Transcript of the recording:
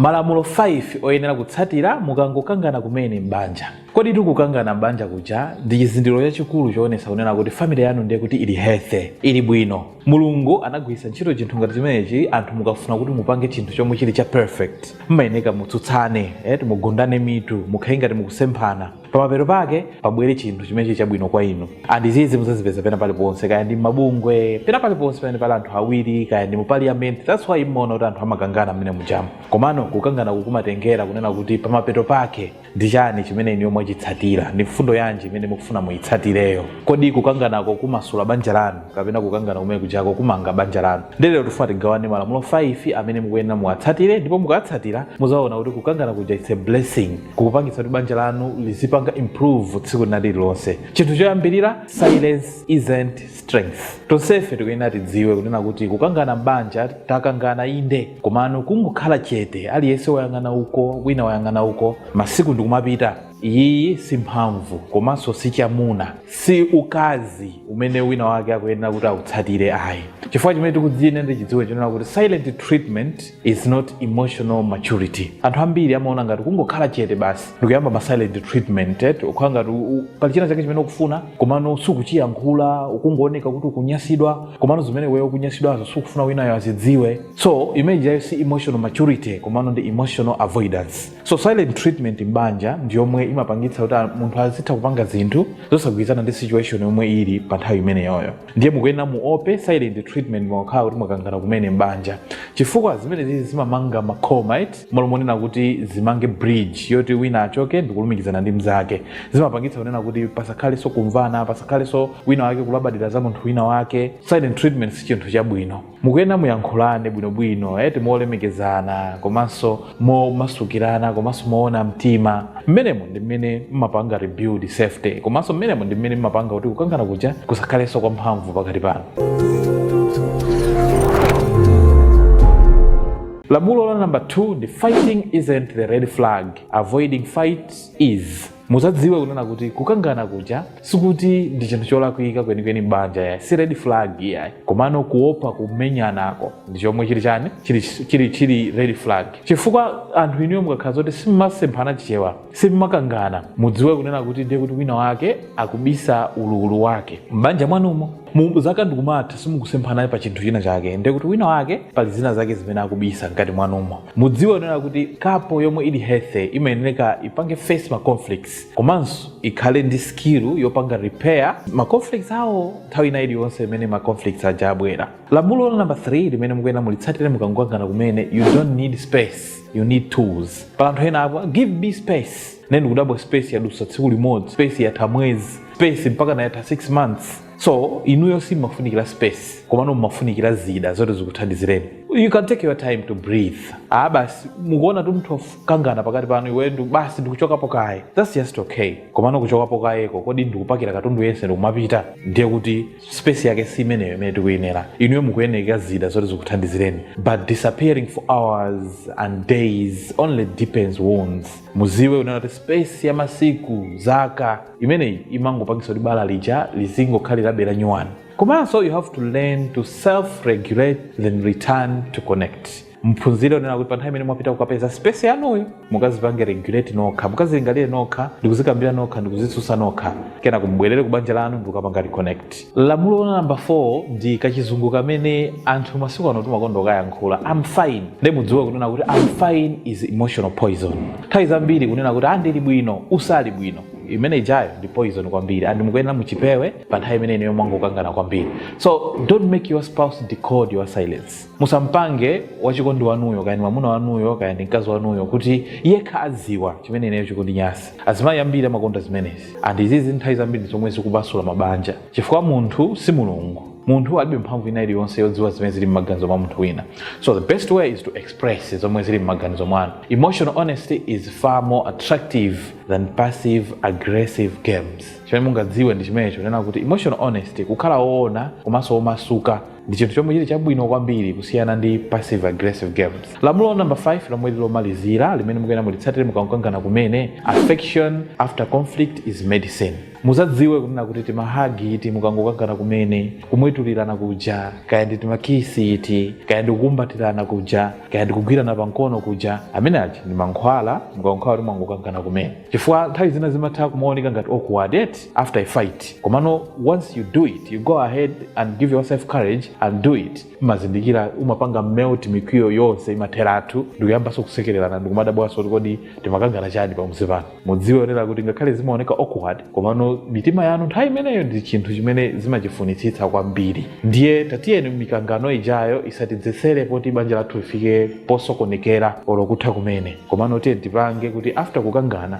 Malamulo 5 oyenera kutsatira mukangokangana kumene m'banja. Kodi eti kukangana m'banja kuja ndi chizindikiro chachikulu choonetsa kunena kuti family yanu ndiye kuti ili healthy, ili bwino. Mulungu anagwiritsa ntchito chinthu ngati chimenechi anthu mukafuna kuti mupange chinthu chomwe chili cha perfect, mmayeneka mutsutsane eti, mugundane mitu, mukhale ngati mukusemphana. pamapeto pake pabwere chinthu chimene chili chabwino kwa inu and izizi muzazipeza pena paliponse kaya ndi mabungwe pena paliponse pamene pali anthu awiri kaya ndi mu parliament that's why mmaona kuti anthu amakangana mmene mujamu komano kukangana kukumatengera kunena kuti pamapeto pake ndi chani chimene inuyo mwachitsatira ndi mfundo yanji imene mukufuna muyitsatireyo kodi kukanganako kumasula banja lanu kapena kukangana kumene kujako kumanga banja lanu nde lero tifuna tigawane malamulo 5 amene mukuyenera muwatsatire ndipo mukatsatira muzaona kuti kukangana kuja it's a blessing kukupangitsa kuti banja lanu lizipanga improve tsiku lina lililonse chinthu choyambirira silence isn't strength tonsefe tikuyenera tidziwe kunena kuti kukangana m'banja takangana inde komano kungokhala chete aliyense wayang'ana uko wina wayang'ana uko masiku ndikumapita iyi si mphamvu komanso si chamuna si ukazi umene wina wake akuyenera kuti autsatire ayi chifukwa chimene tikuyenera tichidziwe nchonena kuti silent treatment is not emotional maturity anthu ambiri amaona ngati kungokhala chete basi ndikuyamba ma silent treatment eti ukhala ngati u- u- pali china chake chimene ukufuna komano sukuchiyankhula ukungooneka kuti ukunyasidwa komano zimene wewe ukunyasidwazo sukufuna winayo azidziwe so imene ijayo si emotional maturity komano ndi emotional avoidance so silent treatment mbanja ndi yomwe imapangitsa kuti a- munthu azitha kupanga zinthu zosagwirizana ndi situation yomwe ili pa nthawi imeneyoyo ndiye mukuyenera muope silent treatment mukakhala kuti mwakangana kumene m'banja chifukwa zimenezizi zimamanga makhoma eti malo monena kuti zimange bridge yoti wina achoke ndikulumikizana ndi mnzake zimapangitsa kunena kuti pasakhaleso kumvana pasakhaleso wina wake kulabadira za munthu wina wake silent treatment si chinthu chabwino mukuyenera muyankhulane bwinobwino eti molemekezana komanso momasukirana komanso moona mtima mmenemo ndi mmene mmapanga rebuild safety komanso mmenemo ndi mmene mmapanga kuti kukangana kuja kusakhaleso kwa mphamvu pakati panu lamulo la namba 2 ndi fighting isn't the red flag avoiding fights is muzadziwe kunena kuti kukangana kuja sikuti ndi chinthu cholakwika kwenikweni m'banja yayi si red flag yayi komano kuopa kumenyanako ndi chomwe chili chani chili, chili, chili red flag chifukwa anthu inuyo mukakhala zoti simmasemphana chichewa simmakangana mudziwe kunena kuti ndiye kuti wina wake akubisa ululu wake m'banja mwanmo Mu- zaka ndikumatha simukusemphana naye pa chinthu china chake ndiye kuti wina wake pali zina zake zimene akubisa mkati mwanumo mudziwe kunena kuti couple yomwe ili healthy imayenereka ipange face ma conflicts komanso ikhale ndi skill yopanga repair ma conflicts awo nthawi ina iliyonse imene ma conflicts aja abwera lamulo la number 3 limene mukuyenera mulitsatire mukangokangana kumene you don't need space you need tools pali anthu ena akuti give me space ne ndikudabwa space yadusa tsiku limodzi space yatha mwezi space mpaka nayatha 6 months so inuyo simumafunikira space komano mumafunikira zida zoti zikuthandizireni you can take your time to breathe ah basi mukuona kuti mutha kukangana pakati panu iwe ndi basi ndikuchokapo kaye that's just okay komano kuchokapo kayeko kodi ndikupakira katundu yense ndikumapita ndiye kuti space yake si imeneyo imene tikuyenera inuyo mukuyenera zida zoti zikuthandizireni but disappearing for hours and days only deepens wounds mudziwe kunena kuti space ya masiku zaka imeneyi imangopangitsa kuti bala lija lizingokhalirabe la nyuwani komanso you have to learn to self regulate then return to connect muphunzire kunena kuti pa nthawi imene mwapita kukapeza space yanuyo mukadzipange regulate nokha mukadzilingalire nokha ndikudzikambira nokha ndikudzitsutsa nokha kenako mubwerere ku banja lanu ndikukapanga reconnect lamulo la number 4 ndi kachizungu kamene anthu masiku ano timakonda kukayankhula I'm fine nde mudziwe kunena kuti I'm fine is emotional poison nthawi zambiri kunena kuti ah ndili bwino usali bwino imene ijayo ndi poison kwambiri and mukuyenera muchipewe pa nthawi imene inuyo mwangokangana kwambiri so don't make your spouse decode your silence musampange wachikondi wanuyo kaya ndi mwamuna wanuyo kaya ndi mkazi wanuyo kuti iye akhale adziwa chimene ineyo chikundinyasa azimayi ambiri amakonda zimenezi and izizi nthawi zambiri zomwe zikuphwasula mabanja chifukwa munthu si mulungu munthu alibe mphamvu ina iliyonse yodziwa zimene zili m'maganizo mwa munthu wina so the best way is to express zomwe zili m'maganizo mwanu emotional honesty is far more attractive than passive aggressive games chimene mungadziwe ndi chimenecho kunena kuti emotional honesty kukhala woona komanso womasuka ndi chinthu chomwe chili chabwino kwambiri kusiyana ndi passive aggressive games lamulo number 5 lomwe lili lomalizira limene mukuyenera mulitsatire mukangokangana kumene affection after conflict is medicine mudzadziwe kunena kuti timahagi iti mukangokangana kumene kumwetulirana kuja kaya ndi timakisi iti kaya ndi kukumbatirana kuja kaya ndi kugwirana pamkono kuja amene aja ndi mankhwala mukangokhala kuti mwangokangana kumene chifukwa nthawi zina zimatha kumaoneka ngati awkward eti after a fight komano once you do it you go ahead and give yourself courage and do it mumazindikira mumapanga melt mikwiyo yonse imatheratu ndikuyambanso kusekererana ndikumadabwanso kuti kodi timakangana chani pamudzi pano mudziwe kunena kuti ngakhale zimaoneka awkward komano mitima yanu nthawi imeneyo ndi chinthu chimene zimachifunitsitsa kwambiri ndiye tatiyeni mikangano ijayo isatidzetsere poti banja lathu lifike posokonekera olo kutha kumene komano tiye tipange kuti after kukangana